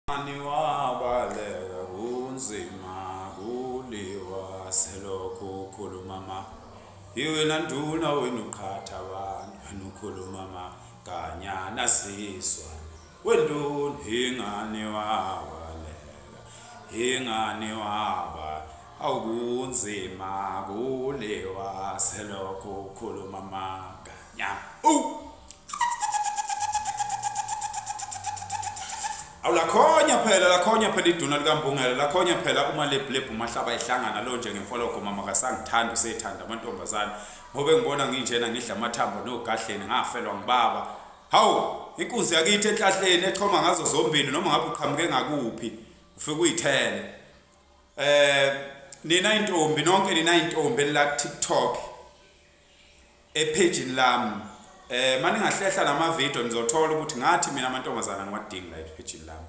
Mani wabaleka kunzima kuliwa selokhu ukhuluma ma iwena nduna wena uqhatha abantu wena ukhuluma maganyana sizwa wenduna ingani wabaleka ingani waba awukunzima kuliwa selokhu ukhuluma maga Ya. Oh. Awulakhonya phela lakhonya phela iduna likambungela lakhonya phela uma lebhlebhu mahlaba ehlangana lo nje ngemfologo mama kasangithanda usethanda amantombazane ngobe ngibona nginjena ngidla amathambo nogahleni ngafelwa ngibaba hawu inkunzi yakithi enhlahleni echoma ngazo zombili noma ngabe uqhamuke ngakuphi ufike uyithele eh nina intombi nonke nina intombi la TikTok ephejini lami eh mani ngahlehla lama video nizothola ukuthi ngathi mina amantombazana ngiwadinga la ephejini lami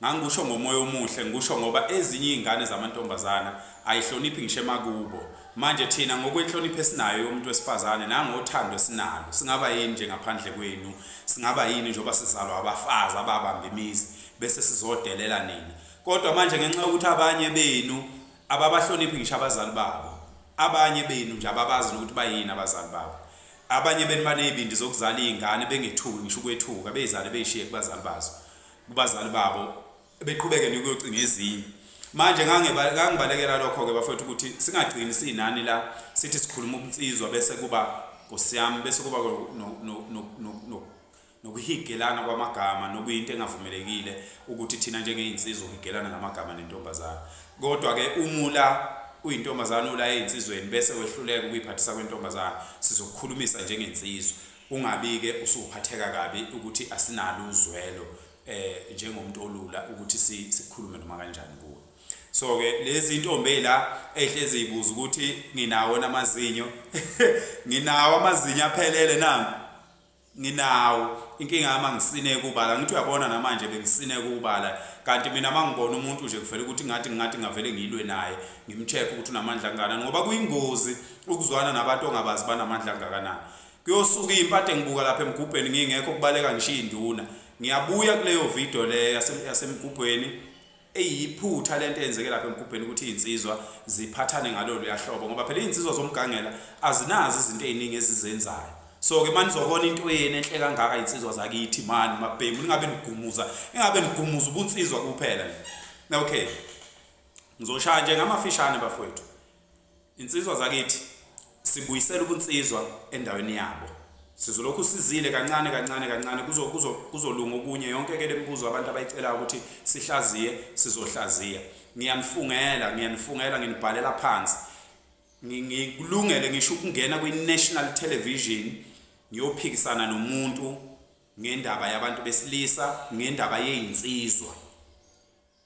ngangikusho ngomoya omuhle ngikusho ngoba ezinye izingane zamantombazana ayihloniphi ngisho emakubo manje thina ngokwenhlonipho esinayo yomuntu wesifazane nangothando sinalo singaba yini nje ngaphandle kwenu singaba yini njengoba sizalwa abafazi ababamba imizi bese sizodelela nina kodwa manje ngenxa yokuthi abanye benu Ababahloniphi ngisho abazali babo. Abanye benu nje ababazi nokuthi bayini abazali babo. Abanye benu banezibindi zokuzala izingane bengethuki ngisho ukwethuka, bezale bezishiye kubazali bazo, kubazali babo, beqhubeke nokuyocinga ezinye. Manje ngangibalekela lokho-ke bafowethu ukuthi singagcini sinani la sithi sikhuluma ubunsizwa bese kuba Nkosi yami bese kuba nokuhigelana kwamagama nokuyinto engavumelekile ukuthi thina njengey'nsizwa uhigelana ngamagama nentombazane kodwa-ke umula uyintombazane ula ey'nsizweni bese wehluleka ukuyiphathisa kwentombazane sizokukhulumisa njengensizwa ungabi-ke usuphatheka kabi ukuthi asinalo uzwelo um eh, njengomuntu olula ukuthi sikhulume noma kanjani kuwo so ke lezi intombi ezila ehlezi ibuza ukuthi nginawo namazinyo nginawo amazinyo aphelele nangu Nginawo inkinga yami angisineki ubala ngithi uyabona namanje bengisineka ubala kanti mina mangibona umuntu nje kuvela ukuthi ngathi ngathi ngavele ngilwe naye ngimcheck ukuthi unamandla angakanani ngoba kuyingozi ukuzwana nabantu ongabazi banamandla angakanani kuyosuka impathe ngibuka lapha emgubheni ngingekho kubaleka ngishiya induna ngiyabuya kuleyo video le yasemgubhweni eyiphutha lento eyenzeke lapha emgubheni ukuthi izinsizwa ziphathane ngalolu yahlobo ngoba phela izinsizwa zomgangela azinazi izinto eziningi ezizenzayo so ke manje uzobona into yeni enhle kangaka izinsizwa zakithi mani mabhemu ningabe nigumuza engabe nigumuza ubunsizwa kuphela nje okay ngizoshaya nje ngamafishane bafowethu Insizwa zakithi sibuyisela ubunsizwa endaweni yabo. Sizolokhu sizile kancane kancane kancane kuzo kuzo kuzolunga okunye yonke ke lemibuzo abantu abayicelayo ukuthi sihlaziye sizohlaziya. Ngiyanifungela ngiyanifungela nginibhalela phansi. Ngikulungele ngisho ukungena kwi National Television ngiyophikisana nomuntu ngendaba yabantu besilisa ngendaba yezinsizwa.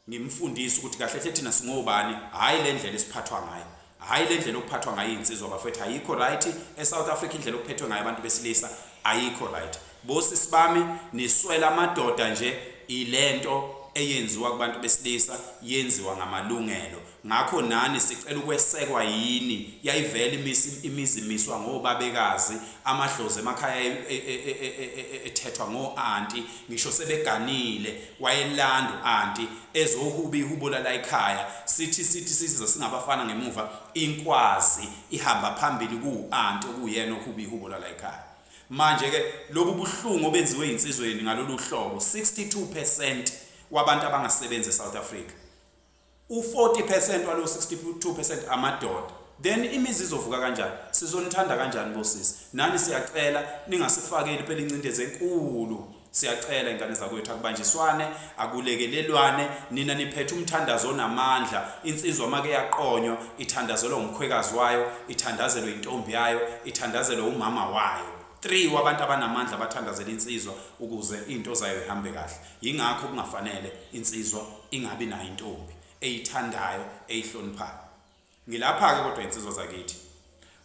Ngimfundise ukuthi kahle hle thina singobani, hhayi le ndlela esiphathwa ngayo. Hhayi le ndlela okuphathwa ngayo iy'nsizwa bafethu ayikho right. ESouth Africa indlela okuphethwe ngayo abantu besilisa ayikho right. Bosisi bami niswela amadoda nje, ilento eyenziwa kubantu besilisa yenziwa ngamalungelo. Ngakho nani sicela ukwesekwa yini yayivela imisi imizimiswa ngobabekazi amadlozi emakhaya e- e- e- e- e- e- e- ethethwa ngo anti ngisho sebeganile wayelandu anti ezohuba ihubula la ekhaya sithi sithi siza singabafana ngemuva inkwazi ihamba phambili ku anti okuyena ohuba ihubula la ekhaya manje ke lobu buhlungu obenziwe insizweni ngalolu hlobo 62% wabantu abangasebenzi eSouth Africa u-40 percent walo 62 percent amadoda then imizi izovuka kanjani sizonithanda kanjani bosisi nani siyacela ningasifakeli phela incindezi enkulu siyacela ingane zakwethu akubanjiswane akulekelelwane nina niphethe umthandazo onamandla insizwa make yaqonywa ithandazelwa umkhwekazi wayo ithandazelwe intombi yayo ithandazelwe umama wayo 3 wabantu abanamandla bathandazela insizwa ukuze into zayo ihambe kahle Yingakho kungafanele insizwa ingabi nayo intombi eyithandayo eyihloniphayo. Ngilapha-ke kodwa insizwa zakithi.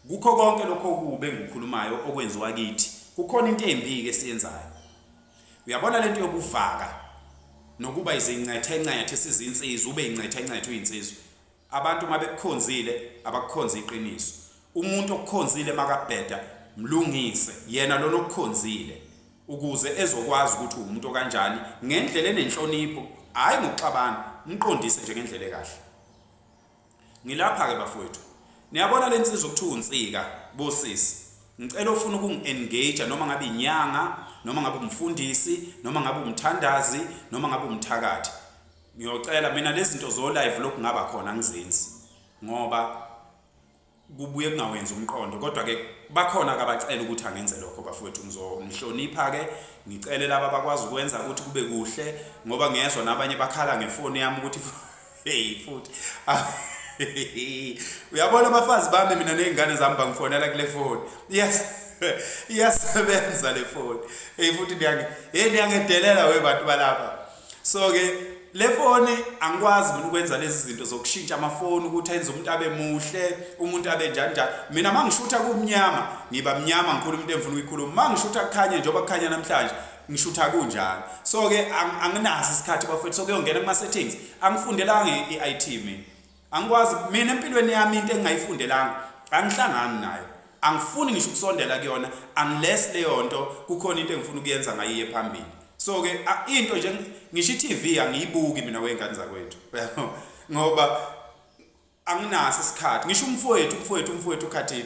Kukho konke lokho okubi engikukhulumayo okwenziwa kithi, kukhona into embi-ke esiyenzayo. Uyabona lento yokuvaka nokuba izincethe-ncethe sizinsizwa, ube incethe-ncethe uyinsizwa. Abantu mabekukhonzile abakukhonza iqiniso. Umuntu okukhonzile makabheda mlungise yena lona okukhonzile ukuze ezokwazi ukuthi umuntu kanjani ngendlela enenhlonipho hayi ngokuxabana mqondise nje ngendlela ekahle. Ngilapha ke bafowethu. Niyabona lensizwa okuthiwa unsika bosisi. Ngicela ufuna ukungi-engage noma ngabe inyanga, noma ngabe umfundisi, noma ngabe umthandazi, noma ngabe umthakathi. Ngiyocela mina lezinto zo live lokungaba khona ngizenzi ngoba kubuye kungawenzi umqondo kodwa ke bakhona akabacela ukuthi angenze lokho bafowethu ngizonihlonipha ke ngicele laba bakwazi ukwenza ukuthi kube kuhle ngoba ngiyezwa nabanye bakhala ngefoni yami ukuthi hey futhi uyabona abafazi bami mina nezingane zami bangifonela kule foni yes iyasebenza le foni hey futhi ndiyange hey ndiyangedelela we bantu balapha so ke le foni angikwazi mina ukwenza lezi zinto zokushintsha amafoni ukuthi enze umuntu abe muhle umuntu abe njani njani mina mangishutha kumnyama ngiba mnyama ngikhulu umuntu engifuna ukuyikhuluma mangishutha kukhanye njengoba kukhanya namhlanje ngishutha kunjalo so ke anginaso isikhathi bafethu so kuyongena kuma settings angifundelanga i-IT mina angikwazi mina empilweni yami into engingayifundelanga angihlangani nayo angifuni ngisho ukusondela kuyona unless leyo nto kukhona into engifuna ukuyenza ngayiye phambili so ke into nje ngisho i-TV angiyibuki mina wengane zakwethu ngoba anginaso isikhathi ngisho umfowethu umfowethu umfowethu ukhathile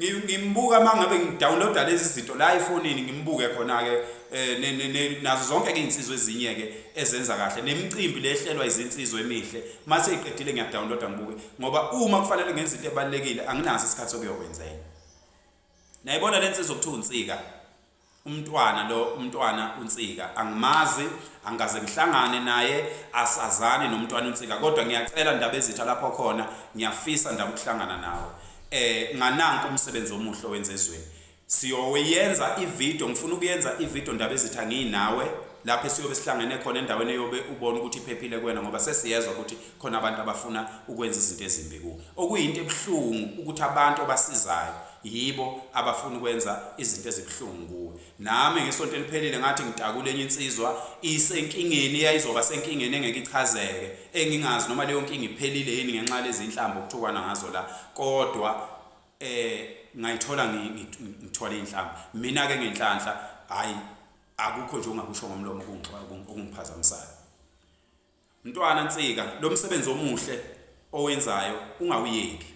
ngimbuka uma ngabe ngidownloada lezi zinto la efonini ngimbuke khona-ke um nazo zonke-ke iy'nsizwa ezinye-ke ezenza kahle nemicimbi le ehlelwa izinsizwa emihle uma seyiqedile ngiyadownloada ngibuke ngoba uma kufanele ngenza into ebalulekile anginaso isikhathi sokuyokwenzela nayibona le nsizwa okuthiwa unsika Umntwana lo umntwana uNsika angimazi angikaze ngihlangane naye asazani nomntwana uNsika kodwa ngiyacela ndaba ezitha lapho khona ngiyafisa ndaba ukuhlangana nawe eh ngananku umsebenzi omuhle owenza ezweni siyoyenza ivideo ngifuna ukuyenza ivideo ndaba ezitha nginawe lapho siyobe sihlangene khona endaweni eyobe ubona ukuthi iphephile kuwena ngoba sesiyezwa ukuthi khona abantu abafuna ukwenza izinto ezimbi kuwe okuyinto ebuhlungu ukuthi abantu obasizayo Yibo abafuna ukwenza izinto ezibuhlungu kuwe. Nami ngesonto eliphelile ngathi ngitakule enye insizwa isenkingeni eyayizoba senkingeni engeke ichazeke engingazi noma leyo nkinga iphelile yini ngenxa lezi inhlamba okuthukwana ngazo la kodwa eh ngayithola ngithola inhlamba mina ke ngenhlanhla hayi akukho nje ongakusho ngomlomo kungixoxa kungiphazamisayo Mntwana Nsika lomsebenzi omuhle owenzayo ungawuyeki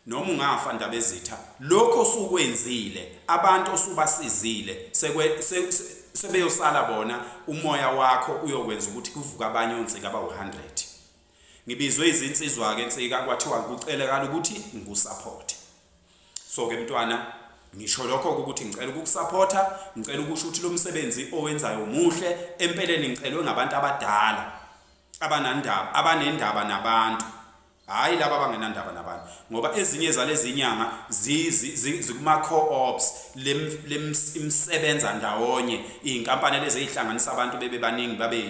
noma ungafa Ndabezitha lokho osukwenzile abantu osubasizile sekwe se, se, sebeyosala bona umoya wakho uyokwenza ukuthi kuvuka abanye ontsika abawu-100 ngibizwe izinsizwa-ke nsika kwathiwa kucelekala ukuthi ngikusaphothe so ke mntwana ngisho lokho ukuthi ngicela ukukusapotha ngicela ukusho ukuthi lo msebenzi owenzayo muhle empeleni ngicelwe ngabantu abadala abanandaba abanendaba nabantu hayi laba abangenandaba nabantu ngoba ezinye zalezi nyanga zikuma-co-ops lemsebenza ndawonye iy'nkampani lezi ey'hlanganisa abantu bebe baningi babe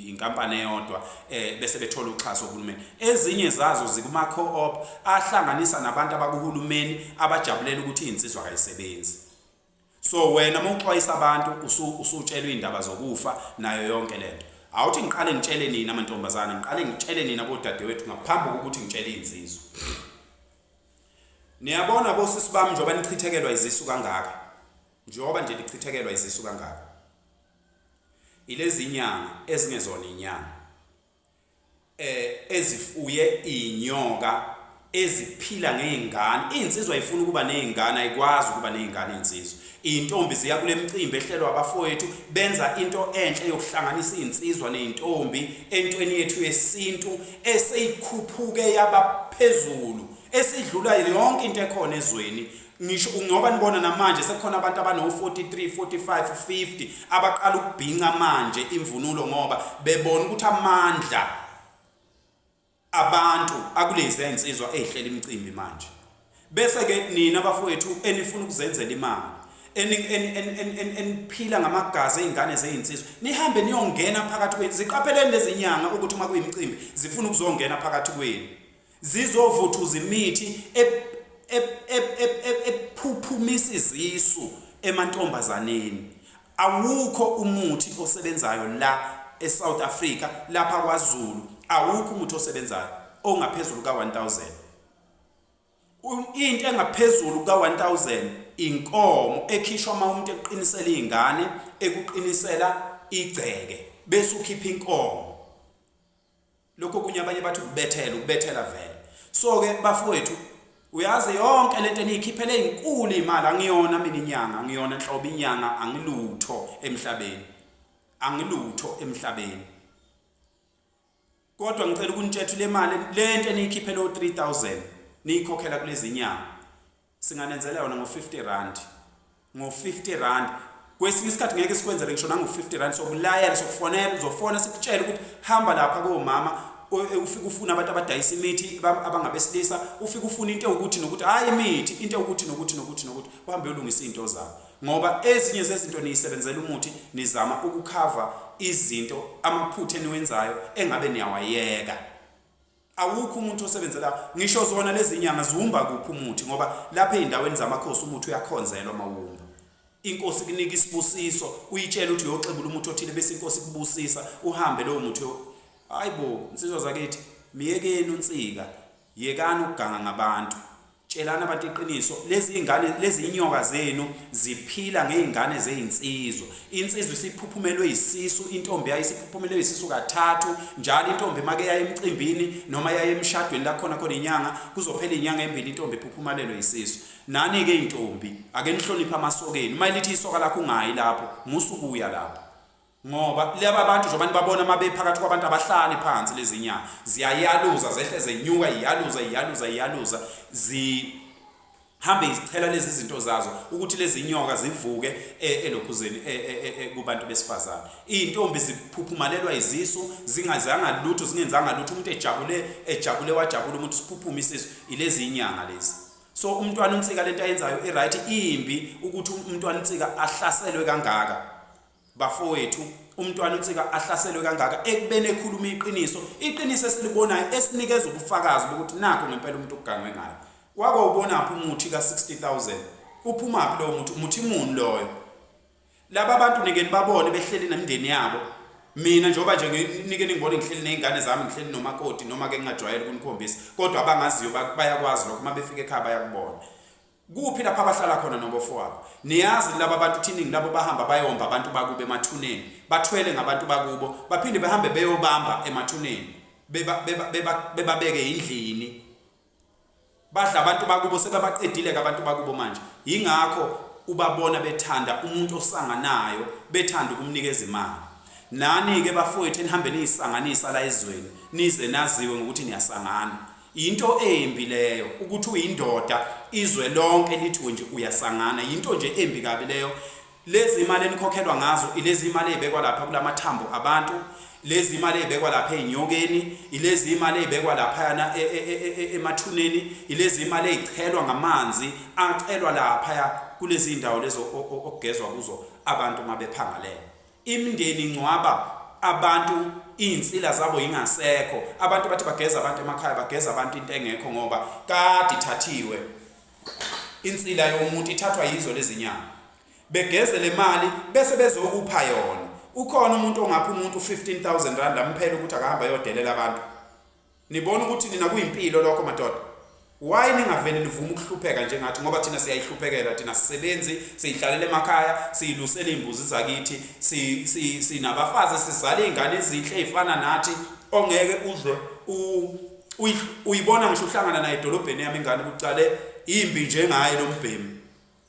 inkampani eyodwa eh bese bethola uxhaso kuhulumeni ezinye zazo zikuma co-op ahlanganisa nabantu abakuhulumeni abajabulela ukuthi izinsizwa kayisebenzi so wena uma uxwayisa abantu usutshelwe indaba zokufa nayo yonke lento awuthi ngiqale ngitshele nina amantombazana ngiqale ngitshele nina bodadewethu ngaphambi kokuthi ngitshele izinsizwa niyabona bosisi bami njengoba nichithekelwa izisu kangaka njengoba nje nichithekelwa izisu kangaka ilezinyanga ezingezona inyanga eh ezifuye inyoka eziphila ngezingane insizwa ifuna ukuba nezingane ayikwazi ukuba nezingane insizwa izintombi ziya kulemcimbi ehlelwa abafowethu benza into enhle yokuhlanganisa izinsizwa nezintombi entweni yethu yesintu eseyikhuphuke yabaphezulu esidlula yonke into ekhona ezweni ngisho ngoba nibona namanje sekukhona abantu abano-43 45 50 abaqala ukubhinca manje imvunulo ngoba bebona ukuthi amandla abantu akulezi insizwa ezihlele imicimbi manje bese-ke nina bafowethu enifuna ukuzenzela imali eniphila ngamagazi ey'ngane zey'nsizwa nihambe niyongena phakathi kwenu ziqapheleni lezi nyanga ukuthi uma kuyimicimbi zifuna ukuzongena phakathi kwenu zizovuthuza imithi ephuphumisa izisu emantombazaneni awukho umuthi osebenzayo la eSouth Africa lapha kwaZulu awukho umuthi osebenzayo ongaphezulu ka1000 into engaphezulu ka1000 inkomo ekhishwa uma umuntu eqinisela izingane ekuqinisela igceke bese ukhipha inkomo lokho kunye abanye bathi ukubethela ukubethela vele so ke bafowethu uyazi yonke lento eniyikhiphele izinkulu imali angiyona mina inyanga ngiyona nhlobo inyanga angilutho emhlabeni angilutho emhlabeni kodwa ngicela ukunitshethu le mali lento eniyikhiphele o 3000 niyikhokhela kulezi nyanga Singanenzela yona ngo 50 rand. Ngo 50 rand. Kwesinye isikhathi ngeke sikwenzele ngisho nango 50 rand sokulayela sokufonela uzofona sikutshela ukuthi hamba lapha komama e, ufike ufuna abantu abadayisa imithi abangabesilisa ufike ufuna into ukuthi nokuthi hayi imithi into ukuthi nokuthi nokuthi nokuthi uhambe ulungisa izinto zakho ngoba ezinye zezinto niyisebenzela umuthi nizama ukukhava izinto amaphutha eniwenzayo engabe niyawayeka Awukho umuntu osebenzela ngisho zona lezi nyanga ziwumba kuphi umuthi ngoba lapha ezindaweni zamakhosi umuthi uyakhonzelwa mawumba inkosi kunika isibusiso uyitshela ukuthi uyoxebula umuthi othile bese inkosi kubusisa uhambe lowo muthi hayibo insizwa zakithi miyekeni unsika yekani ukuganga ngabantu Tshelani abantu iqiniso, lezi ingane lezi inyoka zenu ziphila ngeingane zeinsizwa. Insizwa isiphuphumelwe isisu, intombi yayo isiphuphumelwe isisu kathathu, njalo intombi make yaye emcimbini noma yaye emshadweni la khona khona inyanga, kuzophela inyanga embili intombi iphuphumalelwe isisu. Nani ke intombi, ake nihloniphe amasokeni. Uma elithi isoka lakho ungayi lapho, musukuya lapho. Ngoba laba bantu njengoba nibabona uma bephakathi kwabantu abahlali phansi lezi nyanga ziyayaluza zehle zenyuka iyaluza iyaluza iyaluza zihambe izithela lezi zinto zazo ukuthi lezi nyoka zivuke e, elokhuzeni e, e, kubantu besifazane izintombi ziphuphumalelwa izisu zingazanga lutho zingenzanga lutho umuntu ejabule ejabule wajabula umuntu siphuphuma isisu ilezi nyanga lezi so umntwana unsika lento ayenzayo i right imbi ukuthi umntwana unsika ahlaselwe kangaka Bafowethu, umntwana uNtsika ahlaselwe kangaka ekubeni ekhuluma iqiniso, iqiniso esilibonayo esinikeza ubufakazi bokuthi nakho ngempela umuntu ugangwe ngayo. Wake wawubonaphi umuthi ka-60000? Uphumaphi lowo muthi? Umuthi muni loyo? Laba bantu nike nibabone behleli nemindeni yabo. Mina njengoba nje nike ningibone ngihleli nezingane zami, ngihleli nomakoti noma ke ngingajwayele ukunikhombisa, kodwa abangaziyo bayakwazi lokho uma befika ekhaya bayakubona. Kuphi lapha abahlala khona nobofowabo? Niyazi laba bantu thiningi labo bahamba bayomba abantu bakubo emathuneni, bathwele ngabantu bakubo, baphinde bahambe beyobamba emathuneni, bebabeke yindlini. Badla abantu bakubo sebabaqedile abantu bakubo manje. Yingakho ubabona bethanda umuntu osanganayo, bethanda ukumnikeza imali. Nani-ke bafowethu enihambe niyisanganisa la ezweni, nize naziwe ngokuthi niyasangana. Yinto embi leyo ukuthi uyindoda izwe lonke lithi wenje uyasangana yinto nje embi kabi leyo lezi imali enikhokhelwa ngazo ilezi imali ezibekwa lapha kulamathambo abantu lezi imali ezibekwa lapha ezinyokeni ilezi imali ezibekwa lapha yana e, e, e, emathuneni ilezi imali ezichelwa ngamanzi acelwa lapha kulezi indawo lezo okugezwa kuzo abantu mabephangalele Imndeni ingcwaba abantu iynsila zabo yingasekho abantu bathi bageza abantu emakhaya bageza abantu into engekho ngoba kade ithathiwe insila yomuntu ithathwa yizo lezinyanga begeze le mali bese bezokupha yona ukhona umuntu ongapha umuntu 15000 rand amphela ukuthi akahamba yodelela abantu Nibona ukuthi nina kuyimpilo lokho madoda. Why ningavele nivume ukuhlupheka njengathi ngoba thina siyayihluphekela thina sisebenzi siyihlalela emakhaya siyilusela imbuzi zakithi si sinabafazi sizala izingane ezinhle ezifana nathi ongeke udle u uyibona ngisho uhlangana naye edolobheni yami ingane kucale imbi njengaye lombhemu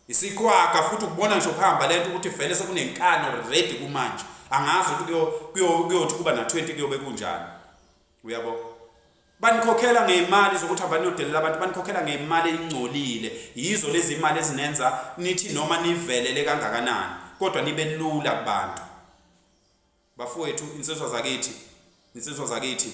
isikhwaga futhi ukubona ngisho kuhamba lento ukuthi vele sekunenkani already kumanje angazi ukuthi kuyothi kuba na 20 kuyobe kunjani uyabo banikhokhela ngeimali zokuthi abaniyodelela abantu banikhokhela ngeimali eyingcolile yizo lezi imali ezinenza nithi noma nivelele kangakanani kodwa nibe lula kubantu bafowethu insizwa zakithi insizwa zakithi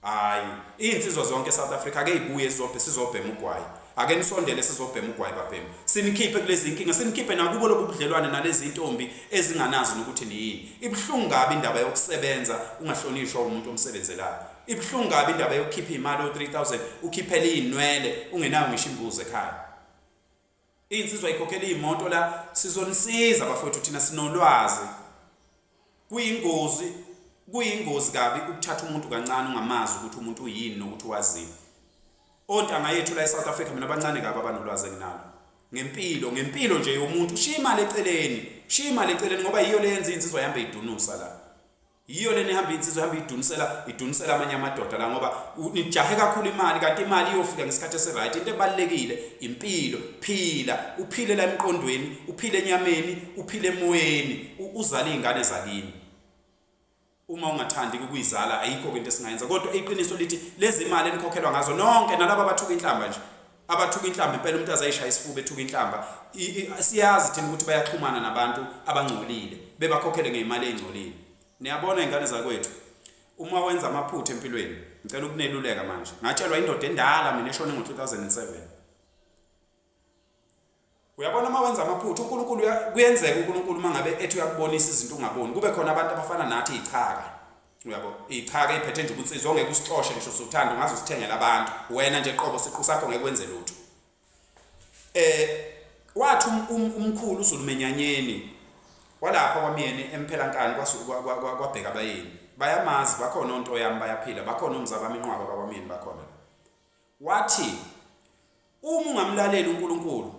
hayi izinsizwa zonke eSouth Africa ke ibuye zizobhe sizobhema ugwayi Ake nisondele sizobhema ugwayi babhemu. Sinikhiphe kulezi inkinga, sinikhiphe nakubo lobu budlelwane nalezi intombi ezinganazi nokuthi niyini. Ibuhlungu kabi indaba yokusebenza ungahlonishwa umuntu omsebenzelayo. Ibuhlungu kabi indaba yokukhipha imali o3000 ukhiphela izinwele ungenayo ngisho imbuzi ekhaya. Insizwa ikhokhela imoto la sizonisiza bafowethu thina sinolwazi. Kuyingozi kuyingozi kabi ukuthatha umuntu kancane ungamazi ukuthi umuntu uyini nokuthi wazini. Ontanga yethu la eSouth Africa mina abancane kabi abanolwazi enginalo. Ngempilo ngempilo nje yomuntu ushiya imali eceleni, ushiya imali eceleni ngoba yiyo leyenza insizwa yambe idunusa la. Yiyo lena ihamba insizwa ihamba idunisela idunisela amanye amadoda la ngoba nijahe kakhulu imali kanti imali iyofika ngesikhathi esiright into ebalekile impilo phila uphile la emqondweni uphile enyameni uphile emoyeni uzala izingane zakini uma ungathandi ukuyizala ayikho into esingayenza kodwa iqiniso lithi lezi mali enikhokhelwa ngazo nonke nalabo abathuka inhlamba nje abathuka inhlamba impela umuntu azayishaya isifuba ethuka inhlamba siyazi thina ukuthi bayaxhumana nabantu abangcolile bebakhokhele ngeimali ezingcolile niyabona ingane zakwethu uma wenza amaphutha empilweni ngicela ukuneluleka manje ngatshelwa indoda endala mina eshone ngo 2007 uyabona uma wenza amaphutha uNkulunkulu kuyenzeka uNkulunkulu uma ngabe ethi uyakubonisa izinto ungaboni kube khona abantu abafana nathi ichaka uyabo ichaka iphethe nje ukuthi izongeke usixoshe ngisho sothanda ungaze usithengele abantu wena nje qobo siqu sakho ngeke wenze lutho eh wathi um, um, umkhulu uZulumenyanyeni walapha kwamyeni emphela nkani kwabheka abayeni bayamazi bakhona onto yami bayaphila bakhona umzabami inqwaba bakwamyeni bakhona wathi Uma ungamlaleli uNkulunkulu,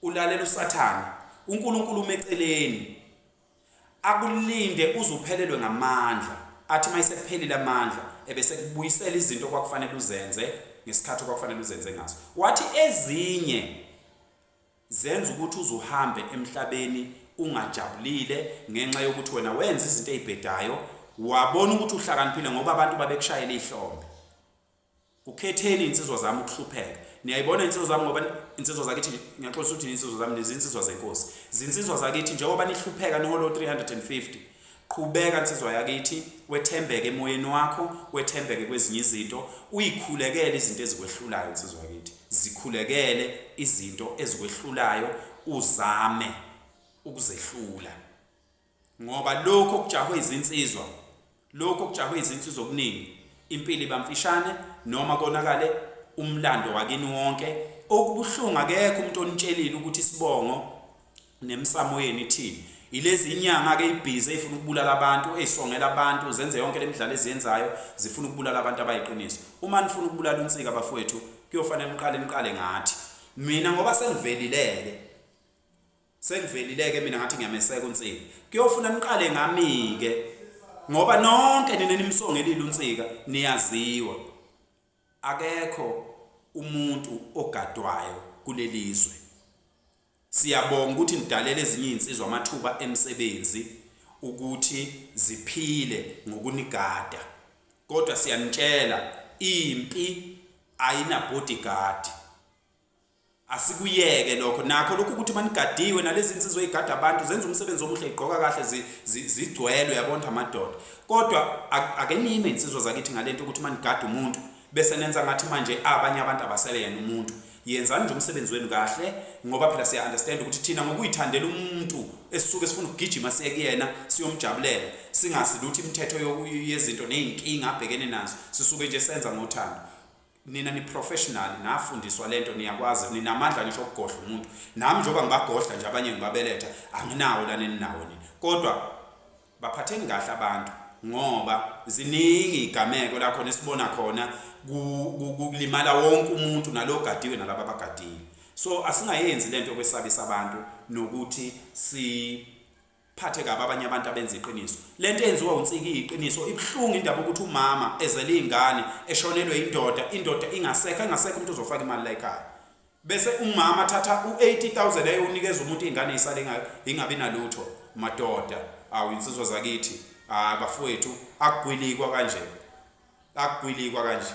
ulalela uSathane. UNkulunkulu umeceleni. Akulinde uzuphelelwe ngamandla. Athi mayisephelile amandla ebese kubuyisela izinto kwakufanele uzenze ngesikhathi kwakufanele uzenze ngaso. Wathi ezinye zenza ukuthi uzuhambe emhlabeni ungajabulile ngenxa yokuthi wena wenza izinto ezibhedayo wabona ukuthi uhlakaniphile ngoba abantu babekushayela ihlombe Ukhetheni insizwa zami ukuhlupheka. Niyayibona insizwa zami ngoba insizwa zakithi ngiyaxolisa ukuthi insizwa zami nezinsizwa zenkosi. Zinsizwa zakithi njengoba nihlupheka niholo 350. Qhubeka insizwa yakithi wethembeke emoyeni wakho, wethembeke kwezinye izinto, uyikhulekele izinto ezikwehlulayo insizwa yakithi. Zikhulekele izinto ezikwehlulayo uzame ukuzehlula. ngoba lokho kujahwe izinsizwa lokho kujahwe izinsizwa okuningi impilo iba mfishane noma konakale umlando wakini wonke okubuhlungu akekho umuntu onitshelile ukuthi isibongo nemisamo yenu ithini ilezi inyanga ke ibhizi efuna ukubulala abantu ezisongela abantu zenze yonke lemidlalo eziyenzayo zifuna ukubulala abantu abayiqiniso uma nifuna ukubulala unsika bafowethu kuyofanele niqale niqale ngathi mina ngoba sengivelileke Sengivelile-ke mina ngathi ngiyameseka uNsika. Kuyofuna niqale ngami-ke ngoba nonke nina nimsongelile uNsika niyaziwa. Akekho umuntu ogadwayo kuleli zwe. Siyabonga ukuthi nidalele ezinye izinsizwa amathuba emisebenzi ukuthi ziphile ngokunigada. Kodwa siyanitshela impi ayina bodyguard. asikuyeke lokho nakho lokhu ukuthi manigadiwe nalezi nsizwa eyigada abantu zenza umsebenzi omuhle igqoka kahle zigcwelwe yabona amadoda kodwa ake niyime insizwa zakithi ngalento ukuthi manigada umuntu bese nenza ngathi manje abanye abantu abasele yena umuntu yenzani nje umsebenzi wenu kahle ngoba phela siya understand ukuthi thina ngokuyithandela umuntu esisuke sifuna ukugijima siye kuyena siyomjabulela singasiluthi imithetho yezinto nezinkinga abhekene nazo sisuke nje senza ngothando Nina ni professional nafundiswa lento niyakwazi ninamandla ngisho okugodla umuntu nami njengoba ngibagodla nje abanye ngibabeletha anginawo lana eninawo nina kodwa baphatheni kahle abantu ngoba ziningi igameko la khona esibona khona kulimala wonke umuntu nalogadiwe nalabo abagadile so asingayenzi lento yokwesabisa abantu nokuthi si phathe kabi abanye abantu abenza iqiniso lento yenziwa unsiki iqiniso ibuhlungu indaba ukuthi umama ezele izingane eshonelwe indoda indoda ingasekho engasekho umuntu uzofaka imali la ekhaya bese umama thatha u80000 ayonikeza umuntu izingane isale ingabi nalutho madoda awu insizwa zakithi ah bafowethu akugwilikwa kanje akugwilikwa kanje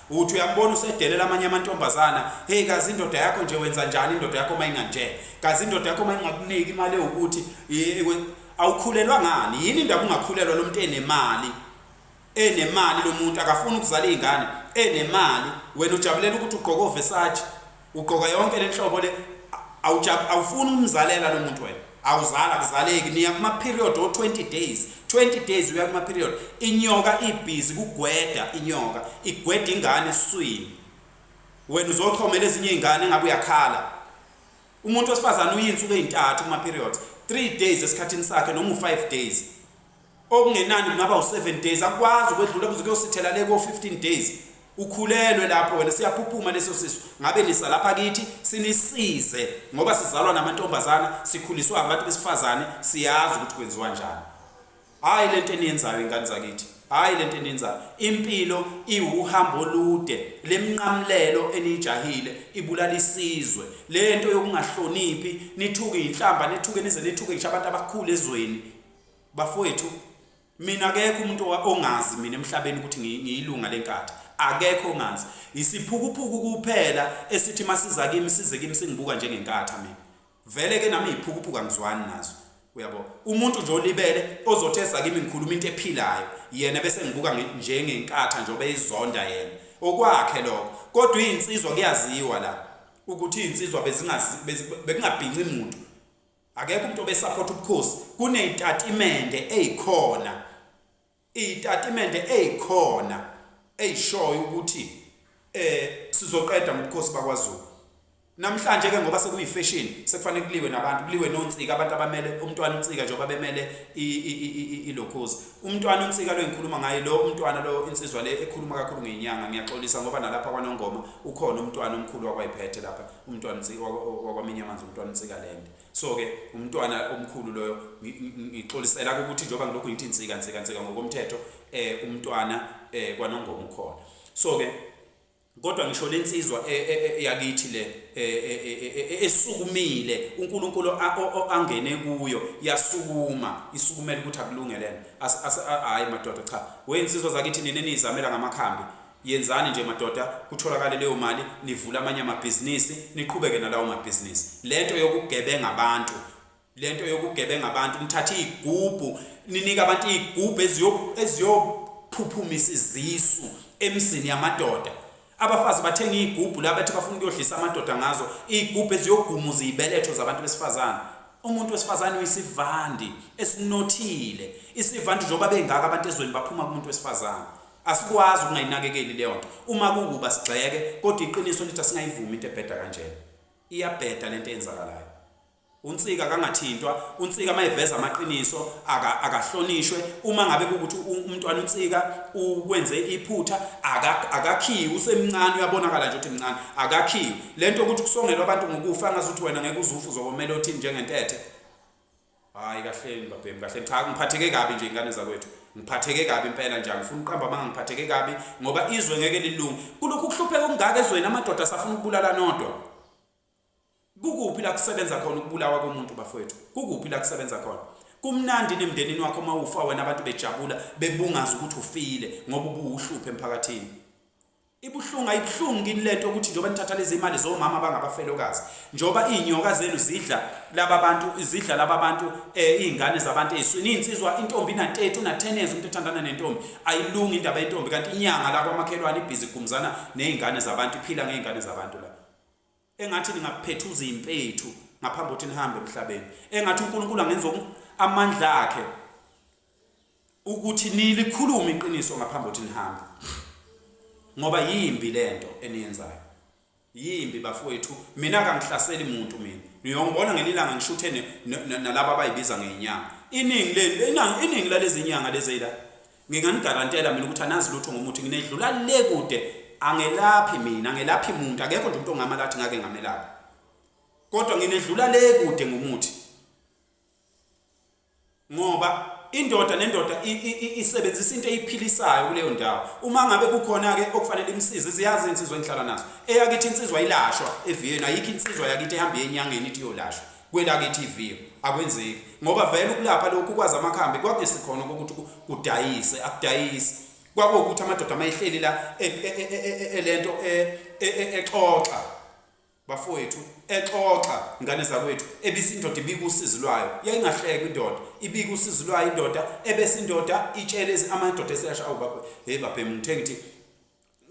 Uthi uyambona usedelela amanye amantombazana. Hey kazi indoda yakho nje wenza njani indoda yakho uma inganje? Kazi indoda yakho uma ingakuniki imali ukuthi awukhulelwa ngani? Yini indaba ungakhulelwa lo muntu enemali? Enemali lo muntu akafuni ukuzala izingane, enemali. Wena ujabulela ukuthi ugqoke oVersace. Ugqoka yonke lenhlobo le awujab awufuni umzalela lo muntu wena. Awuzala kuzaleki niya kuma period o 20 days. 20 days uya kuma period. Inyoka ibhizi kugweda inyoka. Igweda ingane eswini. Wena uzochomela ezinye izingane ngabe uyakhala. Umuntu wesifazana uyinsuku ezintathu kuma periods. 3 days esikhathini sakhe noma u 5 days. okungenani kungaba u7 days akwazi ukwedlula kuze kuyosithela le ko 15 days ukhulelwe lapho wena siyaphuphuma leso sisu ngabe nisa lapha kithi sinisize ngoba sizalwa namantombazana sikhuliswa abantu besifazane siyazi ukuthi kwenziwa njani hayi lento eniyenzayo ingane zakithi hayi lento eniyenzayo impilo iwuhambo olude lemnqamlelo enijahile ibulala isizwe lento yokungahloniphi nithuke inhlamba nithuke nize nithuke ngisho abantu abakhulu ezweni Bafowethu mina akekho umuntu ongazi mina emhlabeni ukuthi ngiyilunga lenkatha akekho ongazi isiphukuphuku kuphela esithi masiza kimi size kimi singibuka njengenkatha mina vele ke nami iphukuphuka ngizwani nazo uyabo umuntu nje olibele ozothesa kimi ngikhuluma into ephilayo yena bese ngibuka njengenkatha njengoba izonda yena okwakhe lokho kodwa izinsizwa kuyaziwa la ukuthi izinsizwa bezingabhinci muntu Akekho umuntu obesupport ubukhosi kunezitatimende ezikhona izitatimende ezikhona ezishoyo ukuthi eh sizoqeda ngobukhosi bakwaZulu namhlanje ke ngoba sekuyi fashion sekufanele kuliwe nabantu kuliwe nonsika abantu abamele umntwana unsika njengoba bemele ilokhozi umntwana unsika lo engikhuluma ngaye lo umntwana lo insizwa le ekhuluma kakhulu ngenyanga ngiyaxolisa ngoba nalapha kwanongoma ukhona umntwana omkhulu wakwayiphethe lapha umntwana wakwaminye amanzi umntwana unsikaland so-ke umntwana omkhulu loyo ngixolisela ukuthi njengoba ngilokhu ngithi nsika nsika nsika ngokomthetho um umntwana um kwanongoma ukhona so-ke kodwa ngisho le nsizwa e, e, e, yakithi le esukumile uNkulunkulu angene kuyo yasukuma isukumela ukuthi akulungelene hayi madoda cha wensizwa zakithi nini nizamela ngamakhambi Yenzani nje madoda kutholakale leyo mali nivule amanye amabhizinisi niqhubeke nalawo mabhizinisi. Lento yokugebenga abantu lento yokugebenga abantu nithatha izigubhu ninika abantu izigubhu eziyo eziyophuphumisa izisu emzini yamadoda. Abafazi bathenga izigubhu la bathi bafuna ukuyodlisa amadoda ngazo izigubhu eziyogumuza izibeletho zabantu besifazane. Umuntu wesifazane uyisivandi esinothile. Isivandi njengoba bengaka abantu ezweni baphuma kumuntu wesifazane. Asikwazi ukungayinakekeli leyo nto uma kukuba sigxeke kodwa iqiniso lithi asingayivumi into ebheda kanjena. Iyabheda lento eyenzakalayo. Unsika kangathintwa, unsika mayiveza amaqiniso aka akahlonishwe uma ngabe ukuthi umntwana unsika ukwenze iphutha akakhiwe usemncane uyabonakala nje ukuthi mncane akakhiwe. Lento ukuthi kusongelwa abantu ngokufa ngazuthi wena ngeke uzufu uzokomela othini njengentethe. hayi kahleni babhemu kahleni cha ngiphatheke kabi nje ingane zakwethu ngiphatheke kabi impela nje angifuni uqamba amanga ngiphatheke kabi ngoba izwe ngeke lilunge kulokhu ukuhlupheka okungaka ezweni amadoda asafuna ukubulala nodwa kukuphi la kusebenza khona ukubulawa komuntu bafowethu kukuphi la kusebenza khona kumnandi nemndenini wakho uma ufa wena abantu bejabula bebungaza ukuthi ufile ngoba ubuwuhluphe emphakathini Ibuhlungu ayibuhlungu kini lento ukuthi njengoba nithatha lezi imali zomama abangabafelokazi njengoba izinyoka zenu zidla laba bantu izidla laba bantu eh izingane zabantu eziswini insizwa intombi na 30 una 10 years umuntu ethandana nentombi ayilungi indaba yentombi kanti inyanga labo amakhelwane ibhizi gumzana nezingane zabantu iphila ngezingane zabantu la engathi ningaphethuza impethu ngaphambi ukuthi nihambe emhlabeni engathi uNkulunkulu angenza amandla akhe ukuthi nilikhulume iqiniso ngaphambi ukuthi nihambe ngoba yimbi lento eniyenzayo yimbi bafowethu mina kangihlaseli muntu mina niyongibona ngelilanga ngishuthene nalabo abayibiza ngenyanga iningi leli iningi lalezinyanga lezeyila Nginganigarantela mina ukuthi anazi lutho ngomuthi nginedlula le kude angelaphi mina angelaphi muntu akekho nje umuntu ongama lathi ngake ngamelapha kodwa nginedlula le kude ngomuthi ngoba indoda nendoda isebenzisa into eyiphilisayo kuleyo ndawo uma ngabe kukhona ke okufanele imsize ziyazi insizwa engihlala nazo eyakithi insizwa ilashwa eviyeni ayikho insizwa yakithi ehamba enyangeni ithi yolashwa Kwelakithi iviyo akwenzeki ngoba vele ukulapha lokhu kwazi amakhambi kwakuyisi khona ukuthi kudayise akudayisi kwakuwukuthi amadoda amayihleli la e, e, e, elento exoxa bafowethu exoxa ngane zakwethu ebisi indoda ibika usizi lwayo yayingahleki indoda ibika usizi lwayo indoda ebese indoda itshele amadoda eseyasha awu baba hey babhe ngithe ngithi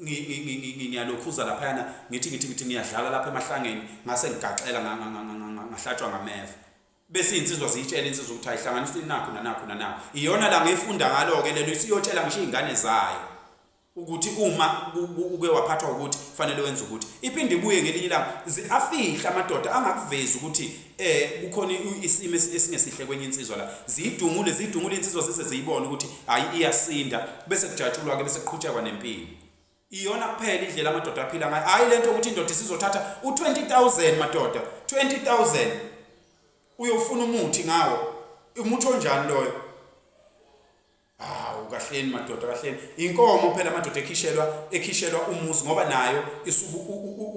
ngiyalokhuza laphayana ngithi ngithi ngithi ngiyadlala lapha emahlangeni ngase ngigaxela ngahlatshwa ngameva bese izinsizwa ziyitshela insizwa ukuthi ayihlanganisa inakho nanakho nanakho iyona la ngiyifunda ngalo-ke lelo isiyotshela ngisho iy'ngane zayo ukuthi uma uke waphathwa ukuthi fanele wenze ukuthi iphinde ibuye ngelinye ilanga afihle amadoda angakuvezi ukuthi eh kukhona isimo esingesihle kwenye insizwa la zidungule zidungule insizwa sise ziyibona ukuthi hayi iyasinda bese kujatshulwa ke bese kuqhutshekwa nempilo iyona kuphela indlela amadoda aphila ngayo hayi lento ukuthi indoda isizothatha u20000 madoda 20000 uyofuna umuthi ngawo umuthi onjani loyo hawu kahleni madoda kahleni inkomo phela amadoda ekhishelwa ekhishelwa umuzi ngoba nayo isuku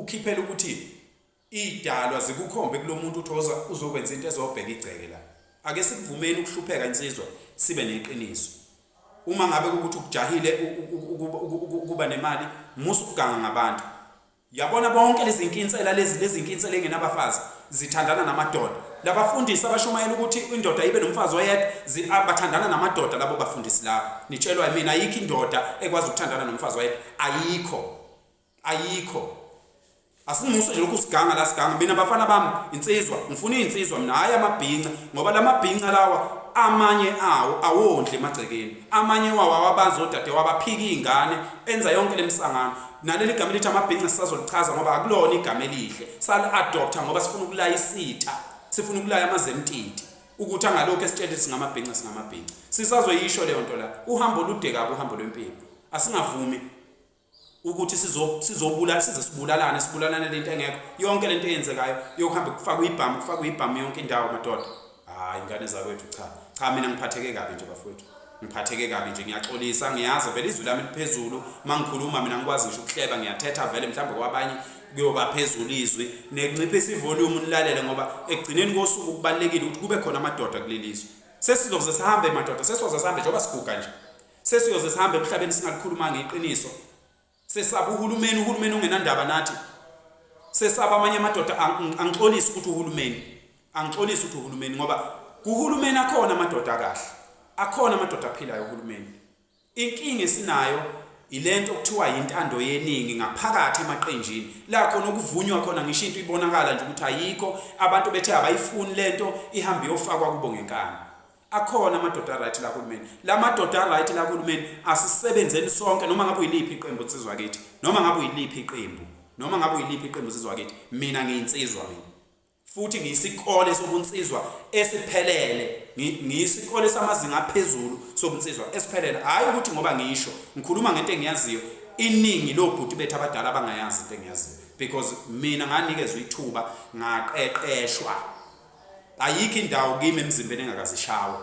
ukhiphela ukuthi Idalwa zikukhombe kulomuntu uthi oza uzokwenza into ezobheka igceke la. Ake sikuvumeni ukuhlupheka insizwa sibe neqiniso. Uma ngabe ukuthi ukujahile ukuba nemali musa ukuganga ngabantu. Yabona bonke lezinkinsela lezi lezinkinsela engenabafazi zithandana namadoda. Labafundisi abashumayela ukuthi indoda ibe nomfazi oyedwa ah, bathandana namadoda labo bafundisi labo. Nitshelwa mina ayikho indoda ekwazi ukuthandana nomfazi oyedwa. Ayikho. ayikho asimuso nje lokhu siganga la siganga mina bafana bami insizwa ngifuna insizwa mina hayi amabhinca ngoba lamabhinca lawa amanye awo awondle emagcekeni amanye wawo awabazi odade wabaphika izingane enza yonke lemisangano naleli gama elithi amabhinca sisazolichaza ngoba akulona igama elihle sali adopter ngoba sifuna ukulaya isitha sifuna ukulaya amazemtiti ukuthi angalokho esitshele singamabhinca singamabhinca sisazoyisho leyo nto la uhambo olude kabi uhambo lwempilo asingavumi ukuthi sizobulala size sibulalane sibulalane lento engekho yonke lento eyenzekayo yokuhamba kufakwa ibhamu kufakwa ibhamu yonke indawo madoda hayi ingane zakwethu cha cha mina ngiphatheke kabi nje bafowethu ngiphatheke kabi nje ngiyaxolisa ngiyazi vele izwi lami liphezulu uma ngikhuluma mina ngikwazi ngisho ukuhleba ngiyathetha vele mhlawumbe kwabanye kuyoba phezulu izwi nekunciphisa ivolume nilalele ngoba ekugcineni kosuku kubalulekile ukuthi kube khona amadoda kuleli zwe sesizoze sihambe madoda sesizoze sihambe njengoba siguga nje Sesiyoze sihambe emhlabeni singalikhulumanga iqiniso. Sesaba uhulumeni, uhulumeni ongenandaba nathi. Sesaba amanye amadoda angixolisi ukuthi uhulumeni. Angixolisi ukuthi uhulumeni ngoba kuhulumeni akhona amadoda akahle. Akhona amadoda aphilayo uhulumeni. Inkinga esinayo ilento okuthiwa yintando yeningi ngaphakathi emaqenjini la khona okuvunywa khona ngisho into ibonakala nje ukuthi ayikho abantu bethe abayifuni lento ihambe yofakwa kubo ngenkani Akhona amadoda right la kulumeni. Lamadoda right la kulumeni asisebenzeni sonke noma ngabe uyiliphi iqembu sizwa kithi. Noma ngabe uyiliphi iqembu. Noma ngabe uyiliphi iqembu sizwa kithi. Mina ngiyinsizwa mina. Futhi ngiyisikole sobunsizwa esiphelele. Ngiyisikole samazinga aphezulu sobunsizwa esiphelele. Hayi ukuthi ngoba ngisho ngikhuluma ngento engiyaziyo iningi lobhuti bethu abadala abangayazi into engiyaziyo because mina nganikezwe ithuba ngaqeqeshwa ayikho indawo kimi emzimbeni engakazishawe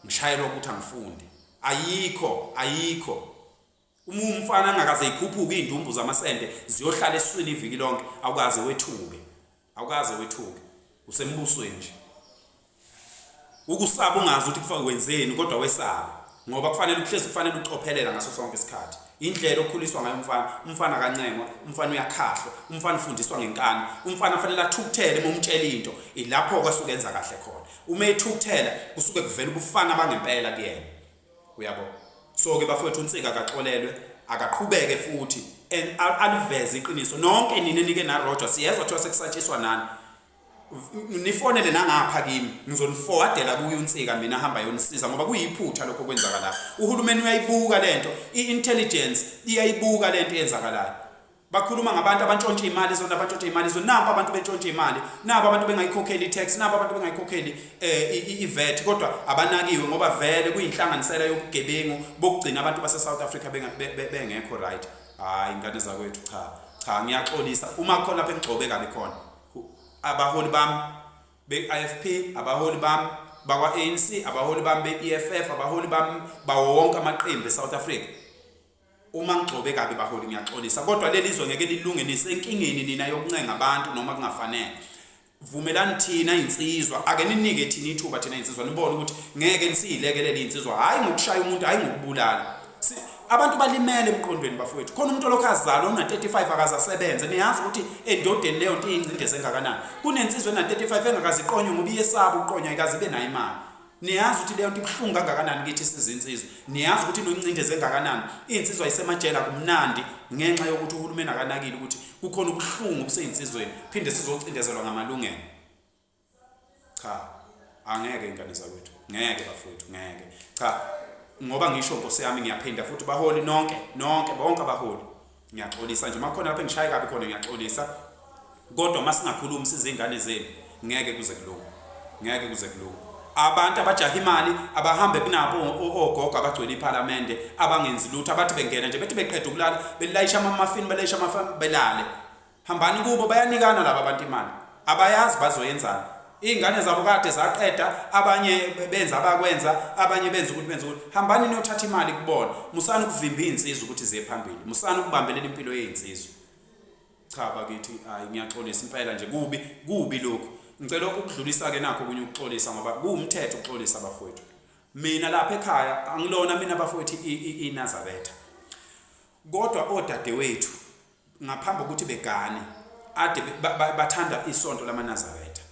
ngishayelwa ukuthi angifunde ayikho ayikho uma umfana angakaze ikhuphuke iy'ndumbu zamasende ziyohlala esiswini iviki lonke awukaze wethuke awukaze wethuke usembusweni nje ukusaba ungazi ukuthi wenzeni kodwa wesaba ngoba kufanele ukuhlezi kufanele ucophelela ngaso sonke isikhathi indlela okhuliswa ngayo umfana umfana akancengwa umfana uyakhahlwa umfana ufundiswa ngenkani umfana kufanele athukuthele uma umtshela into ilapho kwasuke enza kahle khona uma ethukuthela kusuke kuvela ubufana bangempela kuyena uyabo so ke bafowethu unsika akaxolelwe akaqhubeke futhi and aliveze iqiniso nonke nina nike na Roger siyezwa kuthiwa sekusatshiswa nani nifonele nangapha kimi ngizonifowadela kuye unsika mina hamba yonisiza ngoba kuyiphutha lokho kwenzakalayo uhulumeni uyayibuka lento i-intelligence iyayibuka lento eyenzakalayo bakhuluma ngabantu abantshontsha imali zona abantshontsha imali zona nabo abantu bentshontsha imali nabo abantu bengayikhokheli i-tax nabo abantu bengayikhokheli eh, i-vet kodwa abanakiwe ngoba vele kuyinhlanganisela yobugebengu bokugcina abantu base-south africa bengekho right hhayi ingane zakwethu cha cha ngiyaxolisa uma khona lapho engigcobe kabi khona abaholi bami be-IFP abaholi bami bakwa-ANC abaholi bami be-EFF abaholi bami bawo wonke amaqembu e-South Africa uma ngigcobe kabi baholi ngiyaxolisa kodwa leli zwe ngeke lilunge nisenkingeni nina yokuncenga abantu noma kungafanele vumelani thina insizwa ake ninike thina ithuba thina insizwa nibone ukuthi ngeke nisiyilekelele insizwa hayi ngokushaya umuntu hayi ngokubulala Si, abantu balimele emqondweni bafowethu khona umuntu olokhu azalwa una-35 akaze asebenze niyazi ukuthi endodeni leyo nto iyingcindezi engakanani kunensizwa ena-35 engakaziqonywe ngoba iyesaba ukuqonywa ayikaze ibe nayo imali niyazi ukuthi leyo nto ibuhlungu kangakanani kithi sizinsizwa niyazi ukuthi inoncindezi engakanani iy'nsizwa yisemajela kumnandi ngenxa yokuthi uhulumeni akanakile ukuthi kukhona ubuhlungu obuseyinsizweni phinde sizocindezelwa ngamalungelo cha angeke ingane zakwethu ngeke bafowethu ngeke cha ngoba ngisho nkosi yami ngiyaphinda futhi baholi nonke nonke bonke abaholi ngiyaxolisa nje makhona lapho engishaye kabi khona ngiyaxolisa kodwa uma singakhulumi sizingane zenu ngeke kuze kulunge ngeke kuze kulunge abantu abajaha imali abahambe kunabo ogogo abagcwele iphalamende abangenzi lutho abathi bengena nje bethi beqeda ukulala belayisha amamafini belayisha amafini belale Hambani kubo bayanikana laba bantu imali. Abayazi bazoyenzana. Izingane zabo kade zaqeda abanye benza abakwenza abanye benza ukuthi benza ukuthi hambani niyothatha imali kubona musani ukuvimba izinsizwa ukuthi ziye phambili musani ukubambelela impilo yezinsizwa cha bakithi hayi ngiyaxolisa impela nje kubi kubi lokho ngicela ukudlulisa ke nakho kunye ukuxolisa ngoba kuwumthetho ukuxolisa abafowethu mina lapha ekhaya angilona mina abafowethu inazabetha kodwa odadewethu ngaphambi kokuthi begane ade bathanda isonto lamanazaretha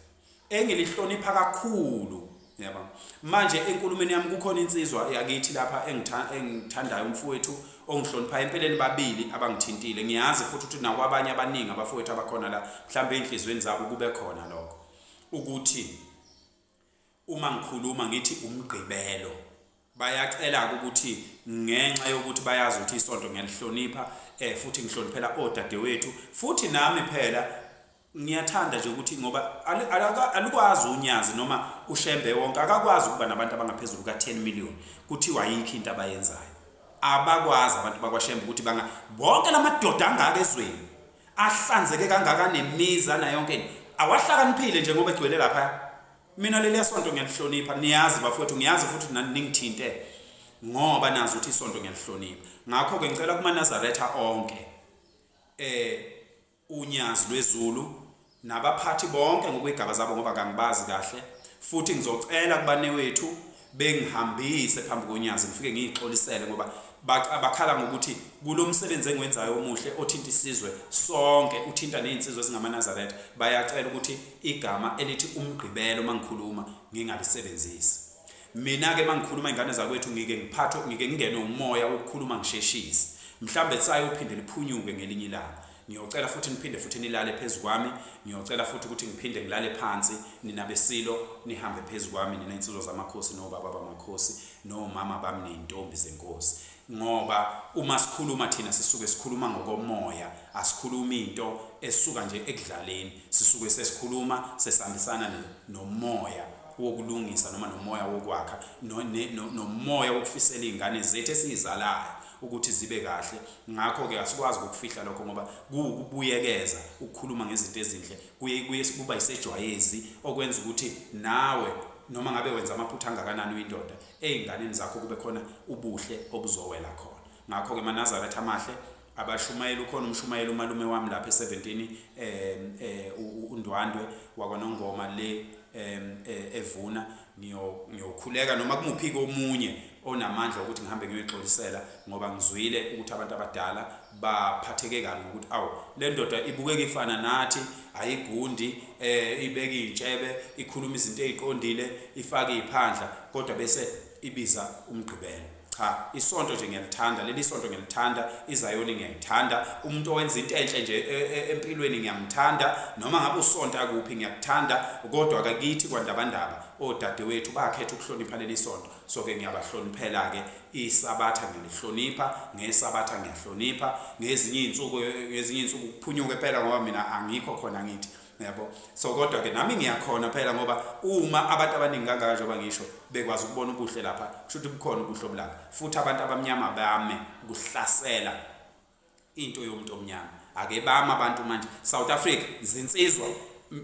engilihlonipha kakhulu yaba manje enkulumeni yami kukhona insizwa yakithi lapha engithandayo umfowethu ongihloniphayo empeleni babili abangithintile ngiyazi futhi ukuthi nakwabanye abaningi abafowethu abakhona la mhlawumbe ey'nhliziyweni zabo kube khona lokho ukuthi Uma ngikhuluma ngithi uMgqibelo, bayacela-ke ukuthi ngenxa yokuthi bayazi ukuthi isonto ngiyalihlonipha um futhi ngihloniphela odadewethu futhi nami phela ngiyathanda nje ukuthi ngoba alukwazi unyazi noma ushembe wonke akakwazi ukuba nabantu abangaphezulu ka-10 million kuthiwa yikho into abayenzayo abakwazi abantu bakwashembe ukuthi banga bonke la madoda angaka ezweni ahlanzeke kangaka nemiza nayonke awahlakaniphile njengoba egcwele lapha Mina leliya sonto ngiyalihlonipha niyazi bafowethu ngiyazi futhi nani ningithinte ngoba nazi ukuthi isonto ngiyalihlonipha ngakho-ke ngicela kumanazaretha onke eh unyazi lwezulu nabaphathi bonke ngokwey'gaba zabo ngoba kangibazi kahle futhi ngizocela kubanewethu bengihambise phambi konyazi ngifike ngiyixolisele ngoba bakhala ngokuthi kulo msebenzi engiwenzayo omuhle othinta isizwe sonke uthinta nezinsizwe ezingamanazaretha bayacela ukuthi igama elithi umgqibelo mangikhuluma ngingalisebenzisi mina ke mangikhuluma ingane zakwethu ngike ngiphathwe ngike ngingenwe umoya wokukhuluma ngisheshise mhlambe sayophinde liphunyuke ngelinye ilanga Ngiyocela futhi niphinde futhi nilale phezu kwami, ngiyocela futhi ukuthi ngiphinde ngilale phansi, nina beSilo nihambe phezu kwami, nina insizwa zamakhosi nobaba bamakhosi nomama bami ney'ntombi zenkosi. Ngoba uma sikhuluma thina sisuke sikhuluma ngokomoya, asikhulumi into esuka nje ekudlaleni, sisuke sesikhuluma sesihambisana nomoya wokulungisa noma nomoya wokwakha nomoya wokufisela iy'ngane zethu esiyizalayo. ukuthi zibe kahle ngakho-ke asikwazi ukufihla lokho ngoba kuwukubuyekeza ukukhuluma ngezinto ezinhle kuye kuye kuba yisejwayezi okwenza ukuthi nawe noma ngabe wenza amaphutha angakanani uyindoda ey'nganeni zakho kube khona ubuhle obuzowela khona ngakho-ke manazaretha amahle abashumayeli ukhona umshumayeli umalume wami lapha e-17 um eh, eh, undwandwe wakwanongoma le um evuna ngiyokhuleka noma kumuphi-ke omunye onamandla ukuthi ngihambe ngiyoyixolisela ngoba ngizwile ukuthi abantu abadala baphatheke kabi ngokuthi awu le ndoda ibukeka ifana nathi ayigundi um ibeka iy'ntshebe ikhuluma izinto ey'qondile ifake iy'phandla kodwa bese ibiza umgqibelo cha isonto nje ngiyalithanda leli sonto ngiyalithanda izayoni ngiyayithanda umuntu owenza into enhle nje e, e, empilweni ngiyamthanda noma ngabe usonta kuphi ngiyakuthanda kodwa kakithi kwandabandaba odadewethu bakhetha ukuhlonipha leli sonto so ke ngiyabahloniphela ke isabatha ngiyalihlonipha ngesabatha ngiyahlonipha ngezinye izinsuku ngezinye izinsuku kuphunyuke phela ngoba mina angikho khona ngithi yabo so kodwa ke nami ngiyakhona phela ngoba uma abantu abaningi kangaka njengoba ngisho bekwazi ukubona ubuhle lapha kusho ukuthi bukhona ubuhle obulapha futhi abantu abamnyama bame kuhlasela into yomuntu omnyama akebami abantu manje South Africa zinsizwa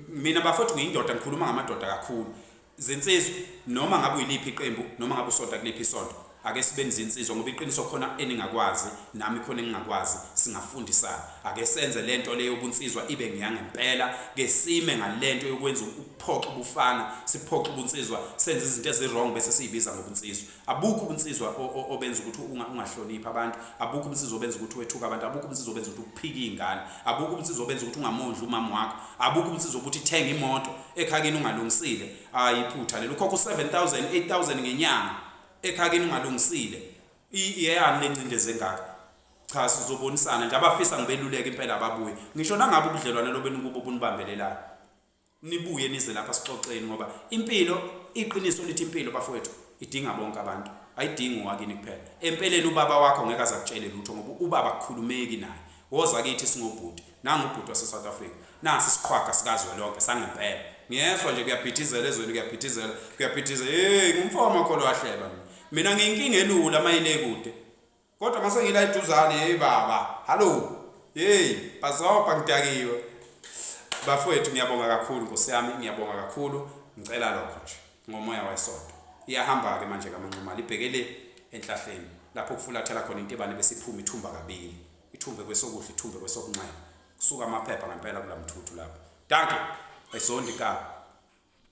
mina bafethu ngiyindoda ngikhuluma ngamadoda kakhulu zinsizwa noma ngabe uyiliphi iqembu noma ngabe usonta kuliphi isonto ake sibe nizinsizwa ngoba iqiniso khona eningakwazi nami khona engingakwazi singafundisana ake senze lento leyo ubunsizwa ibe ngiyangempela ke sime ngalento yokwenza ukuphoxa ubufana siphoxa ubunsizwa senze izinto eziwrong bese siyibiza ngobunsizwa Abukho ubunsizwa obenza ukuthi ungahloniphi abantu, abukho ubunsizwa obenza ukuthi wethuka abantu, abukho ubunsizwa obenza ukuthi ukuphike izingane, abukho ubunsizwa obenza ukuthi ungamondli umama wakho, abukho ubunsizwa ukuthi thenga imoto ekhakini ungalungisile. Hayi iphutha lelo ukhokha u7000, 8000 ngenyanga ekhakini ungalungisile. Iyeyani lencindezi engaka? Cha sizobonisana nje abafisa ngibeluleke impela ababuye. Ngisho nangabe ubudlelwane lobenu kubo bunibambelelayo. nibuye nize lapha sixoxeni ngoba impilo iqiniso lithi impilo bafowethu idinga bonke abantu ayidingi owakini kuphela empeleni ubaba wakho ngeke azakutshele lutho ngoba ubaba kukhulumeki naye woza kithi singobhuti nangubhuti wase-south africa nasi isiqhwaga sikazwe lonke sangempela ngiyezwa nje kuyabhidizela ezweni kuyabhidizela kuyabhidizela heyi ngumfo wamakholwa ahleba mina mina ngiyinkinga elula mayile kude Kodwa mase ngila iduzane hey baba. Hallo. Hey, bazoba ngidakiwe. Bafowethu ngiyabonga kakhulu Nkosi yami, ngiyabonga kakhulu. Ngicela lokho nje ngomoya wesonto. Iyahamba ke manje kamanxuma libhekele enhlahleni lapho kufulathela khona intebane bese iphuma ithumba kabili. Ithumbe kwesokudla, ithumbe kwesokunxele. Kusuka amaphepha ngempela kulamthuthu lapho. Danke. Ayisondi ka.